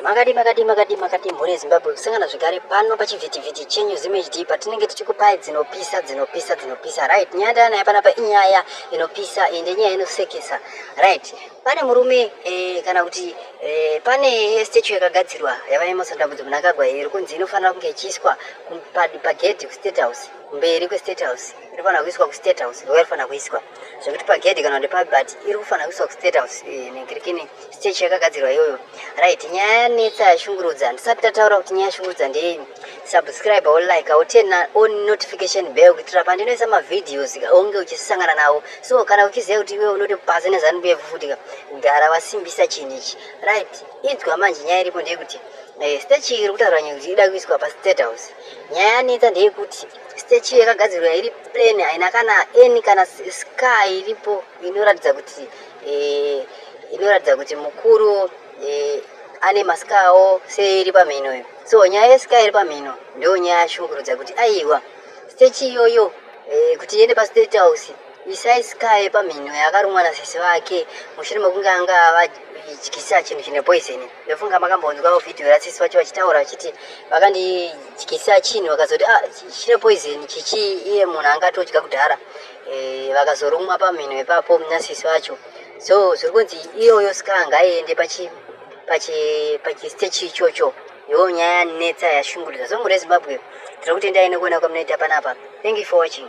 Makadii makadii makadii makadii mhuri yezimbabwe kusangana zvekare pano pachivhitivhiti chenyu zimhd patinenge tichikupai dzinopisa dzinopisa dzinopisa right nyaya ndanaya panapa inyaya inopisa ende nyaya inosekesa right pane murume eh, kana kuti eh, pane statue yakagadzirwa yavaemerson dambudzo munakagwa iri kunzi inofanira kunge ichiiswa pagedhi kustate house kumberi kwestate house inofanira kuiswa kustate house ndoyarifanira kuiswa zvekuti pagedhi kana kuti pabhat iri kufanira kuiswa kustate house eh, nekirikini stage yakagadzirwa iyoyo right nyaya yanetsa yashungurudza ndisati tataura kuti nyaya yashungurudza ndeyei subscribe or like or turn on notification bell kuitira pandinoisa mavhideos onge uchisangana nawo so kana uchiziva kuti iwe unoti pasi nezanubu yefufutika gara wasimbisa chinhu ichi right inzwa manje nyaya iripo ndeyekuti eh, stage iri kutaura nyaya kuti ida kuiswa pastate house nyaya yanetsa ndeyekuti stage iyo yakagadzirwa iri plain haina kana any kana sky iripo inoratidza kuti eh, inoratidza kuti mukuru eh, ane masika awo seiri pamhino iyo so nyaya yesika iri pamhino ndo nyaya yashungurudza kuti aiwa stage iyoyo eh, kuti iende pastate house isai sika yepamhino yakarumwa nasisi vake mushure mekunge anga vadyisa chinhu chine poisoni ndofunga makambonzwawo vhidhiyo yatsisi vacho vachitaura vachiti vakandidyisa chinhu vakazoti ah, chine poison chichi iye munhu anga atodya kudhara e, vakazorumwa pamhino ipapo nasisi vacho so zviri kunzi iyoyo ska ngaiende pachistech ichocho yoo nyaya yanetsa yashungurudza so mhuri yezimbabwe tiri kutendai nekuona kwamunoita panapa thank you for watching